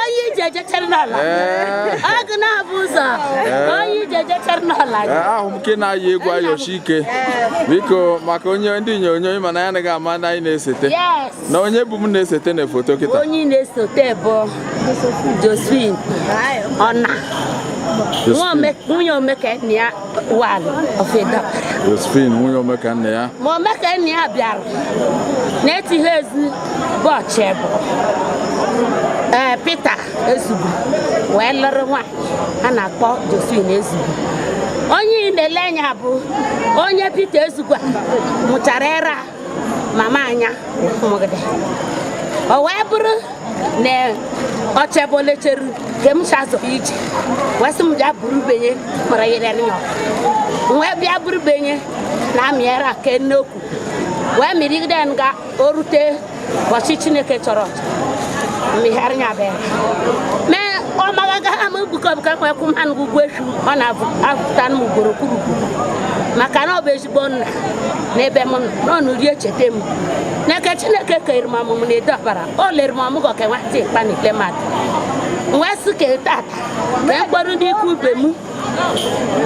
onye ije jechara n'ala agụ na-abụ ụzọ onye ije jechara n'ala ahụ m nke na-ayị egwu ayochi ike biko maka onye ndị onyonyo mana anyị anaghị ama ndị anyị na-esete na onye bụ m na-esete na foto kịta onye na-esete bụ Josephine Ọna nwunye Omekannaya wan ofedo Josephine nwunye Omekannaya ma Omekannaya bịara na-etighe ezi bọchị bụ ee Peter Ezugwu wee lụrụ nwaanyị a na-akpọ Josephine Ezugwu onye ị na-ele anya bụ onye Peter Ezugwu a mụchara era mama anya mụgide o wee bụrụ na ọchebe o lecheru ka m chazụ ije wee sị m bịa buru benye mara yere nyọ wee bịa buru benye na-amị ara ke nnekwu wee mịrịgide nga o rute ụbọchị chineke chọrọ mịgharị ya bịara mee ọ magaga ha m bukọbụka kwekwu mmanụ ugwu efu ọ na-abụta m ugboro kwuru maka na ọ bụ ezi igbo nna n'ebe m nọ nọ rie cheta m n'aka chineke kere m ọmụmụ na edo ọbara o lere m ọmụgwọ ka nwata ịkpa na ikpe mmadụ wee sị ka tata ka m kpọrọ ndị ikwu ibe m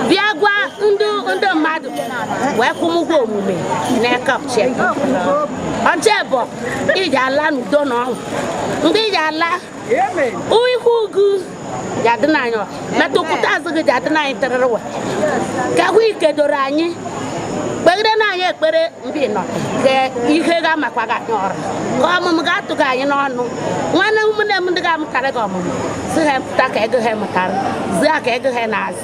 bịa gwa ndị ndị mmadụ wee kwụ m ụgwọ omume n'aka ọchịa ọchịa bụ ị ja-ala n'udo na ọṅụ mgbe ị ja-ala ihu gị ja-adị na anyị metụpụta azụ gị ja-adị na anyị terere wa ka ahụ ike doro anyị kpegide na anyị ekpere mbe ị nọ ka ihe ga-amakwa gị anyị ọrụ ka ọmụmụ ga-atụ gị anyị n'ọnụ nwanne ụmụnne m ndị ga-amụtara gị ọmụmụ si ha pụta ka ego ha mụtara zi ha ka ego ha na-azụ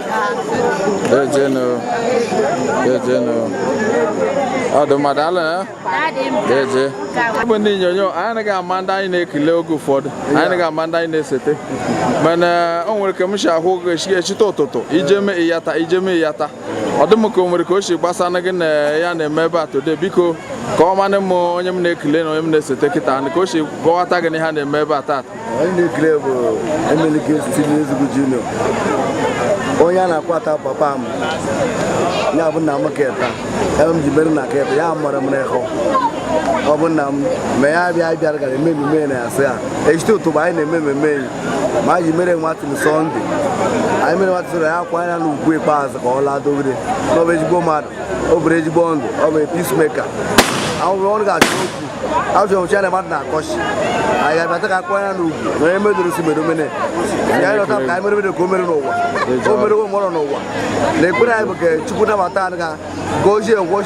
Dejenu. Dejenu. Ọdụ mmadụ ala ya? Deje. Ọ bụ ndị nyonyo, anyị anaghị ama ndị anyị na-ekele oge ụfọdụ. Anyị anaghị ama ndị anyị na-esete. Mana o nwere ka m si ahụ gị echite ụtụtụ, ije mee ịyata, ije mee ịyata. Ọ dị m ka o nwere ka o si gbasa na gị na ihe a na-eme ebe a today biko ka ọ manị m onye m na-ekele na onye m na-esete kịta ka o si gọwata gị na ihe a na-eme ebe a tata. onye ị na-ekele bụ Emelike Ezugwu Junior onye a na-akwa ta papa m ya bụ nna m keta ebe m ji mere na keta ya mara m n'ihu ọ bụ nna m ma ya bịa bịara gara eme emume na ya sị ya echite ụtụtụ anyị na-eme ememe enyi ma anyị ji mere outing Sunday anyị mere outing Sunday anyị akwanyere ya ugwu ikpeazụ ka ọ laa dogide na ọ bụ ezigbo mmadụ o biri ezigbo ndụ ọ bụ peacemaker ahụrụ ọnụ ga-achọ okwu azụ ọchị na mmadụ na-akọchi anyị ga-abịata ka a kwanye ya ugwu na onye medoro si mere omene ya anyị lọta ka anyị mere mere ka o mere n'ụwa o mere onwe ọrụ n'ụwa na ekpere anyị bụ ka Chukwu nabata anyị ka gozie ngwa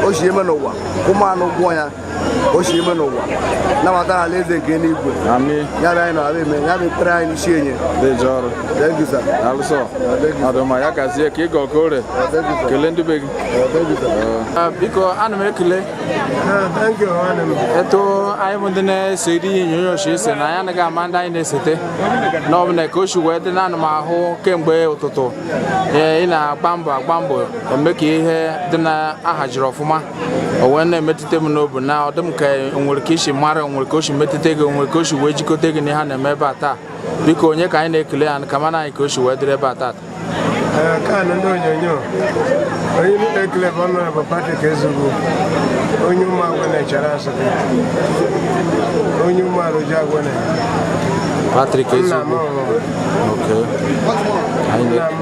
o si eme n'ụwa ụmụ anụ gwụọ ya o si ime n'ụwa nabata ya alaeze nke eluigwe ya bụ anyị na abịa eme ya bụ ekpere anyị n'isi enye daalụsọ ọ dị mma ya gazie ka ị gọ ka o ree kelee ndị be gị ah, biko ana m ekele etu anyị bụ ndị na-ese iri ihe onyonyo si ese na anyị anaghị ama ndị anyị na-esete na ọ bụla ka o si wee dị na ana m ahụ kemgbe ụtụtụ ị na-agba mbọ agba mbọ eme ka ihe dị na ahajiri ọfụma o wee na-emetụta m n'obu na ọ dị m ka o nwere ka i si mara nwere ka o si metụta gị nwere ka o si wee jikọta gị na ihe a na-eme ebe a taa biko onye ka anyị na-ekele ya ka mana anyị ka o si wee dịrị ebe a taa kaanụ ndị onyonyo onye na-ekele bụ Honorable Patrick Ezugwu onye Ụmụagwụ n'Echara asatọ onye ụmụala oji agwụ na Patrick Ezugwu nna m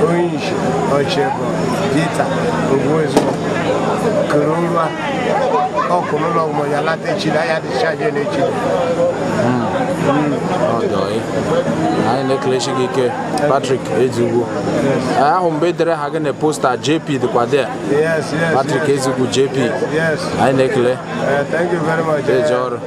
onye isi ọchịbụ Peter Ezugwu kere ụlọ ọkụ n'ụlọ ọgwụ ya lata echi na ya dịcha je n'echi anyị na-ekelesi gị ike Patrick Ezugwu ahụ m ebe e dere aha gị na poster JP dịkwa dị Patrick Ezugwu JP anyị na-ekele eje ọrụ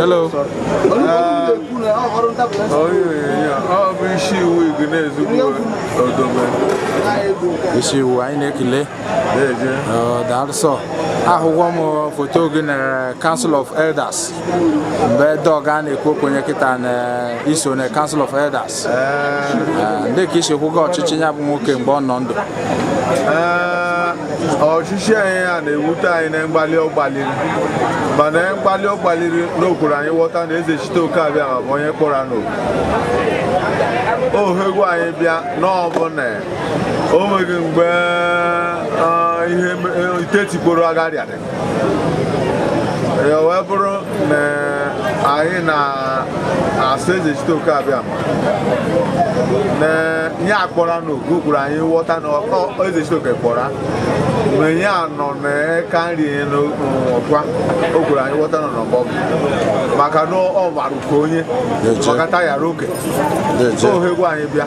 Hello. ọ bụ isi iwu igi na-ezugbo ọ dị mma isi iwu anyị na-ekele daalụsọ ahụgo m foto gị na Council of Elders mgbe dọg a na-ekwu okwenye kịta na i so na Council of Elders ndị ka i si hụgo ọchịchị ya bụ nwoke mgbe ọ nọ ndụ ọchịchị anyị a na-ewute anyị na mgbalị ọ gbalịrị mana mgbalị ọ gbalịrị na o kwuru anyị ghọta na eze chite oke abịa ma bụ onye kpọrọ n'oku ohe gwa anyị bịa n'ọbụla o nweghị mgbe ah, ihe itetikporo agharịa ya wee bụrụ na anyị na-asụ eze site oke abịa na ihe akpọra n'oku o kwuru anyị ghọta na ọkọ eze site oke kpọra na ihe a nọ n'aka nri n'ọkwa o kwuru anyị ghọta nọ n'ọgbọ maka na ọ gbarụka onye maka tayara oke Deje. ohe gwa anyị bịa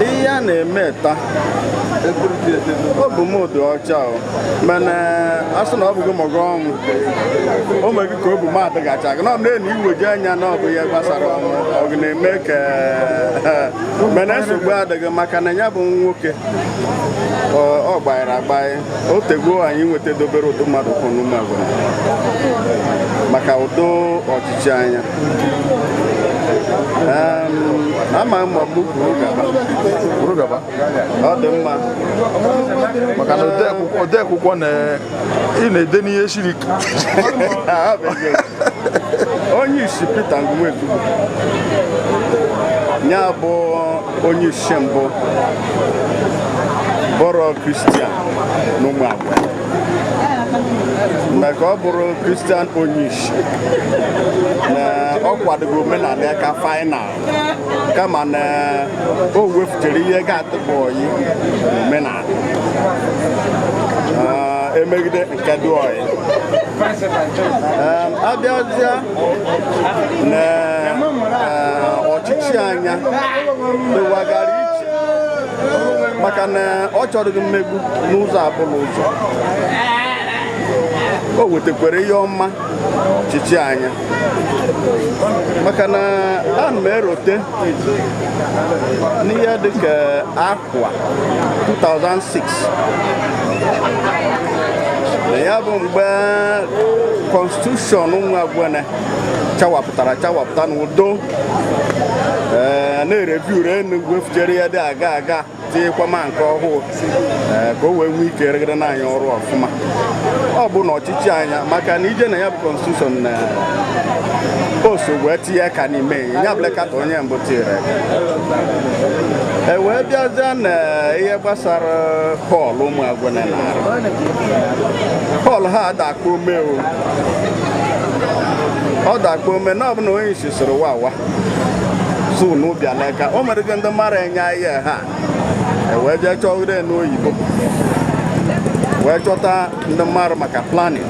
ihe a na-eme taa obu m dị ọcha o mana a sị na ọ bụghị mọgụ ọnwụ o meghị ka obu m adịgacha gị na ọ na-enu iweji anya na ọ bụ ihe gbasara ọnwụ ọ gị na-eme ka mana nsogbu adịghị maka na ya bụ nwoke ọ gbalịrị agbalị o tego anyị nweta dobere ụdị mmadụ kwụ n'Ụmụagwene maka ụdị ọchịchị anya ama m ọgbụ kwuru gaba ọ dị mma maka na odeakwụkwọ na ị na-ede n'ihe siri onye isi Peter Ngwu nwa Ezugwu ya bụ onye isi mbụ bụrụ kristian n'Ụmụagwene ka ọ bụrụ kristian onye isi na ọ kwadoghị omenala ya ka fainal kama na o wefuchara ihe ga adịghị ọyị omenala emegide nke dị ọyị abịazịa na eh, ọchịchị anya dịwagara iche maka na ọ chọghị mmegbu n'ụzọ ọbụla ụzọ o wetakwara ihe ọma ọchịchị anya maka na ana m erote n'ihe dịka afọ Ụwa 2006 na ya bụ mgbe kọnstitushọn Ụmụagwene chawapụtara chawapụta n'udo ee, na-ereviu re e wefuchere ya dị aga aga tinyekwa ma nke ọhụụ ee, ka o wee nwee ike rụgara na anyị ọrụ ọfụma ọ bụ na ọchịchị anya maka na ije na ya bụ kọnstitushọn na o so wee tinye aka n'ime ya blekata onye mbụ tiri aka e wee bịazie na ihe gbasara hall Ụmụagwene na hall ha adakpọme o ọ dakpọme na ọ bụ onye isi soro wawa zuu n'ụbịa leka o mere gị ndị mara enye ahịa ha e wee jee chọgide n'oyibo wee chọta ndị maara maka planning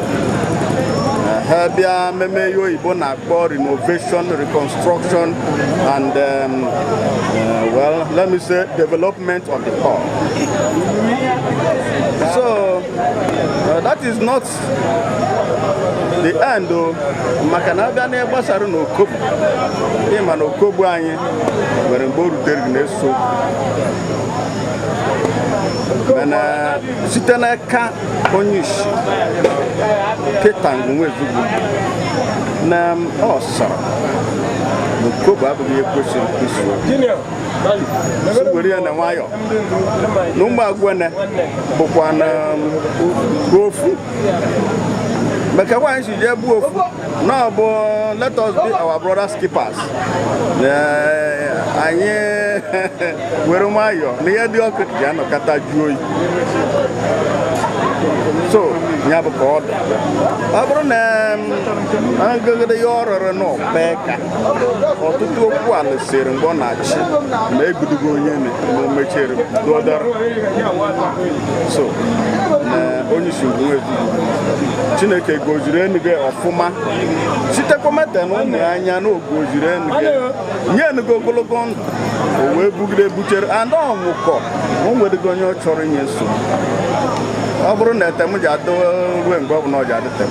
ha bịa meme ihe oyibo na-akpọ renovation reconstruction and um, uh, well let me say development of the hall so uh, that is not the end oh, maka na abịa na gbasara na okobu ịma na okobu anyị nwere mgbe o rutere gị na-eso mana site n'aka onye isi Peter Ngwu nwa Ezugwu na ọ sịrị na okobu abụghị ihe kwesịrị kwesịrị were ya na nwayọ na ụmụ agwene bụkwanụ ofu maka na anyị si jee bụ ofu na ọ bụ let us be our brothers keepers anyị were nwayọ na ihe dị ọkụ ji anọkata jụọ oyi so ya bụ ka ọ dị ọ bụrụ na um, agụgide ya ọ rụrụ n'ọkpa ka ọtụtụ okwu a lụsịrị mgbe ọ na-achị ma egbudugo onye na omechere dụọdara so na onye isi Ezugwu chineke goziri enuge ọfụma sitekwa meta na ụmụ ya anya na ogoziri enuge nye enuge ogologo ndụ o wee bugide buchere and ọ nwụkọ o nwedịghị onye ọ chọrọ inye nsogbu ọ bụrụ na etem ji adị ruo mgbe ọ bụla ọ ji adị tem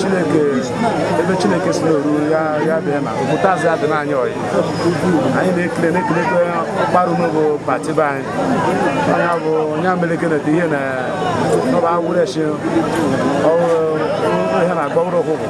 chineke ebe chineke si n'oru ya ya bịa na obodo azụ adị n'anya ọyị anyị na-ekele na-ekelekwe ọkparụ n'ogo pati be anyị onye bụ onye ameleke na ihe na ọba agwụrechi ọhụrụ ihe na-agba ụrụ ụkwụ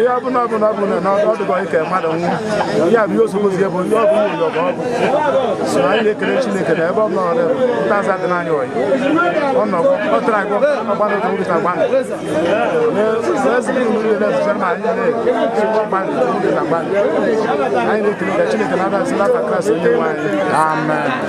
ihe ọbụla ọbụla ọbụla na ọ dịghị ike mmadụ nwụọ ya bụ ihe ozugbozi bụ ndị ọbụ nwunye ọgụ ọgụ so anyị na-ekele Chineke na ebe ọbụla ọrụ ntaza dị n'anya ọyị ọ nọ ọ tara agụ ọgbanụ ka nwụta agbanụ anyị na-ekele ka Chineke na-abịa si n'afa Kraịst onye nwe anyị amen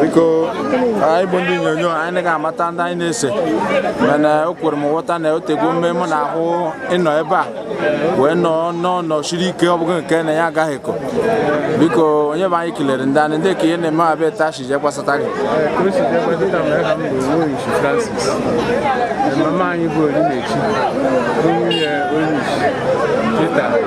biko anyị bụ ndị onyonyo anyị ga-amata ndị anyị na-ese mana o kwere m nghọta na otego mme m na-ahụ ịnọ ebe a wee nọ n'ọnọ siri ike ọ bụghị nke na ya agaghị ekọ biko onye bụ anyị kelere ndaa ka ihe na-eme ebe a taa shi je gbasata gị mama anyị bụ Onyinyechi nwunye onye isi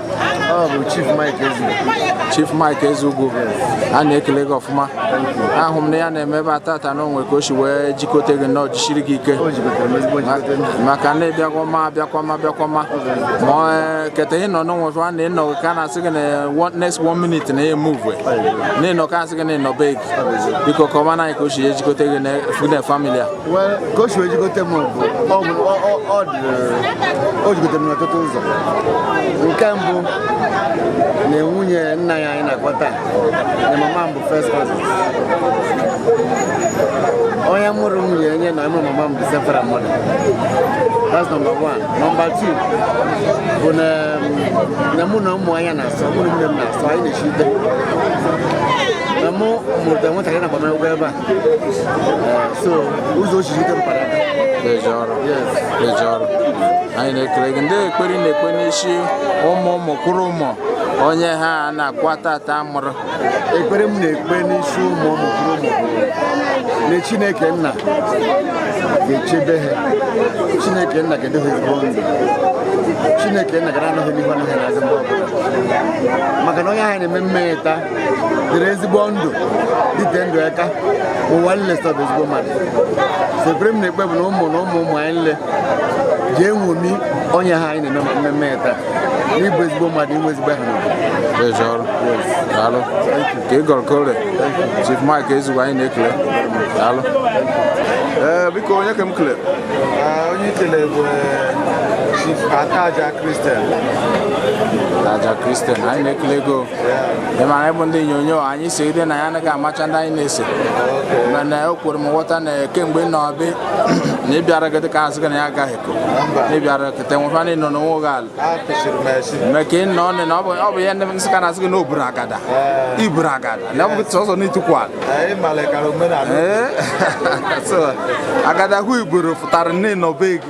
Ọ bụ Chief Mike Ezugwu. Chief Mike Ezugwu a na-ekele gị ọfụma ahụ m na ihe a na-eme ebe a tata na o nwe ka o si wee jikọta gị na o jisiri gị ike maka na ịbịakwa ma abịakwa ma keta ị nọ n'onwe fa na ịnọ ka a na-asị gị na one- next one minute na ya move na ịnọ ka a sị gị na ị nọ be gị biko kọma na anyị ka o si ejikọta gị na famili a ka o si wee jikọta m bụ o jikọtara m n'ọtụtụ ụzọ nke mbụ na nwunye nna ya anyị na-akpọ taa na mama m bụ first cousin onye mụrụ nwunye enye na onye mụrụ mama m bụ same father mother that's number one number two bụ na na mụ na ụmụ anya na-asọ mụ na nwunye m na-asọ anyị na-echite na mụ mụrụ nwatakịrị na agbamakwụkwọ ebe a so ụzọ osisi ike mpara deje ọrụ deje ọrụ anyị na-ekele gị ndị ekpere ị na-ekpe n'isi ụmụ ụmụ kwụrụ ụmụ onye ha na-akwa tata mụrụ ekpere m na-ekpe n'isi ụmụ ụmụ kwụrụ ụmụ na chineke nna ga-echebe ha chineke nna ga-edo ha ezigbo ndụ chineke nna ga na-anọ ha n'ihu anọ ha n'azụ mgbe ọbụla maka na onye ahụ na-eme mmemme taa dịrị ezigbo ndụ dịte ndụ aka ụwa nle sị ọ bụ ezigbo mmadụ so ekpere m na-ekpe bụ na ụmụ na ụmụ ụmụ anyị nle ji eṅomi onye ha anyị na-eme mmemme taa n'ịbụ ezigbo mmadụ inwe ezigbo aha n'obodo daalụ ka ị gọrọ ka o ree Chief Mike Ezugwu anyị na-ekele daalụ ee biko onye ka m kele onye i kele bụ Chief Ataja Christian Ataja Christian anyị na-ekele gị o ị mara ịbụ ndị onyonyo anyị si ide na ya anaghị amacha ndị anyị na-ese mana o kwere m nghọta na kemgbe na ọbị na ị bịara gị dịka a sị gị na ya agaghị ekwu na ị bịara kete nwefa ndị nọ n'onwe gị ala mee ka ị nọ ọnụ na ọ bụ ihe ndị Nsukka na-asị gị na o buru agada i buru agada na ọ bụ sọsọ na itukwu ala agada ahụ i buru pụtara nne na ọbe gị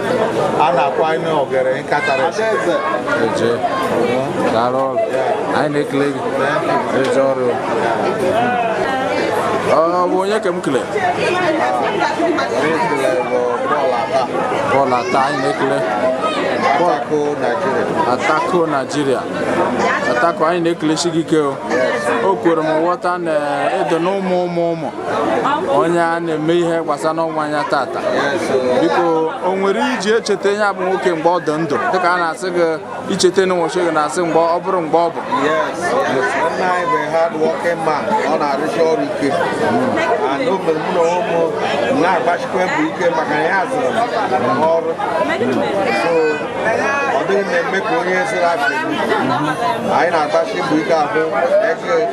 a na-akwa anyị n'ogere nkatara Adaeze. deje daalụ ọrụ anyị na-ekele gị deje ọrụ ọ bụ onye ka m kele bọọlụ ata anyị na-ekele Atako Nigeria. Atako Nigeria Atako anyị na-ekelesi gị ike o o kwere m nghọta na edo na ụmụ ụmụ ụmụ onye a na-eme ihe gbasa n'ọnwụ ya tata biko o nwere i ji echeta ya bụ nwoke mgbe ọ dị ndụ dịka a na-asị gị i cheta na ụbọchị gị na-asị mgbe ọ bụrụ mgbe ọ bụ nna anyị bụ hard working man ọ na-arụsi ọrụ ike and o mere mụ na m na-agbasikwa mbọ ike maka na ya zụrụ ọrụ ọ dịghị na-eme ka onye sịrị asị anyị na-agbasi mbọ ike ahụ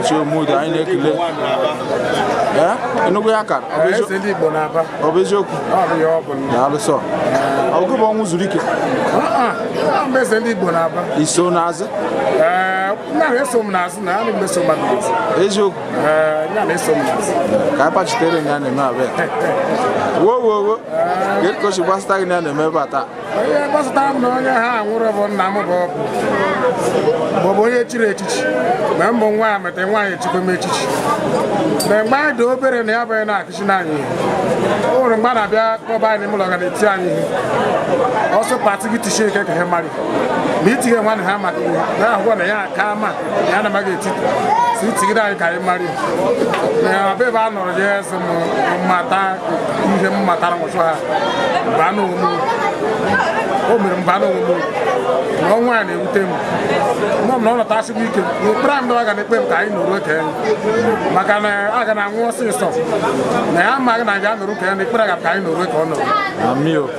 Ichie Omudu anyị na-ekele Enugu ya kara ọ bụ eziokwu daalụ so ọ bụ ọnwụ zuru ike iso n'azụ eziokwu ka anyị pachitere ya na-eme abịa wo wo wo ka o si gbasata gị n'ihe a na-eme ebe a taa ihe gbasatara m na onye ha nwụrụ bụ nna m bụ ọ bụ ọ bụ onye chiri echichi ma m bụ nwa ya meta nwaanyị echikwa m echichi mgbe mgbe anyị dị obere na ya bụ na-akụziri anyị ihe o nwere mgbe ọ na-abịa kpọba anyị n'ime ụlọ ga na-eti anyị ihe ọsọ pati gị tisie ike ka ha mara ma itighe nwanne ha maka ihe na-ahụkwa na ya aka ma ya na maga etiti si tigide anyị ka anyị mara na ọbụ ebe a nọrọ ya esi m mmata ihe m matara nwụsụ ha mba na onwe o mere mba na onwe na ọnwụ ya na-ewute m nọ m na ọ nọtasị m ike na ekpere anyị dọwa ga na-ekpe m ka anyị nọrọ oke maka na a ga na-anwụ ọsịsọ na ya amaghị na ya nọrọ oke na ekpere ga ka anyị nọrọ oke ọ nọrọ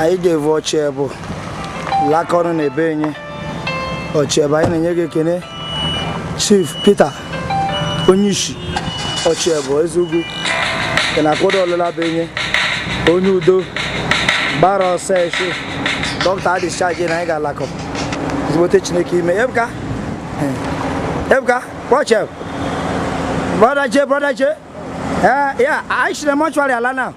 anyị ga-evu Ochiebu lakọnụ na ebe enye Ochiebu anyị na-enye gị ekene chief peter onye ishi Ochiebu Ezeugwu ke na-akwado ọlụla bụ enye onye udo gbara ọsọ echi dọkịta adischarge na anyị ga-alakọ ezigbote chineke ime ebuka ebuka watch out brother j brother j eh yeah i should mortuary ala now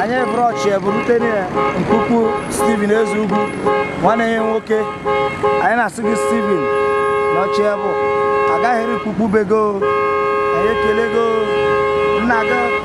anyị eburu Ochiebu rute mkpukpu Stephen Ezeugwu nwanne ya nwoke anyị na-asị gị Stephen na Ochiebu agaghị eri mkpukpu be go anyị ekelego nna gị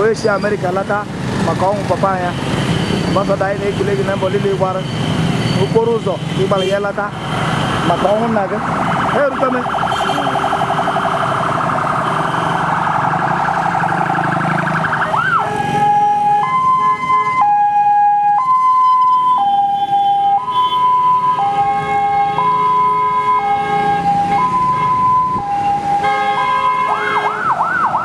onye si America lata maka ọnwụ papa ya ambassador anyị na-ekele gị na mbọ niile ị gbara okporo ụzọ ị gbara ya lata maka ọnwụ nna gị eruteme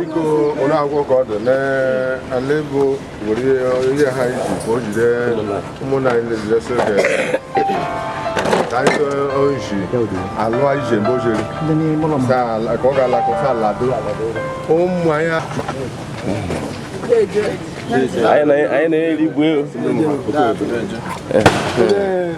biko onye akwụkwọ ka ọ dị n'ala ego were ihe ha iji ka o jide ụmụnna anyị lejidesi oge ka anyị oji alụ anyị ji mgbe o jiri ka ọ ga-alakọ ka alado ụmụ anyị anyị na-erigbu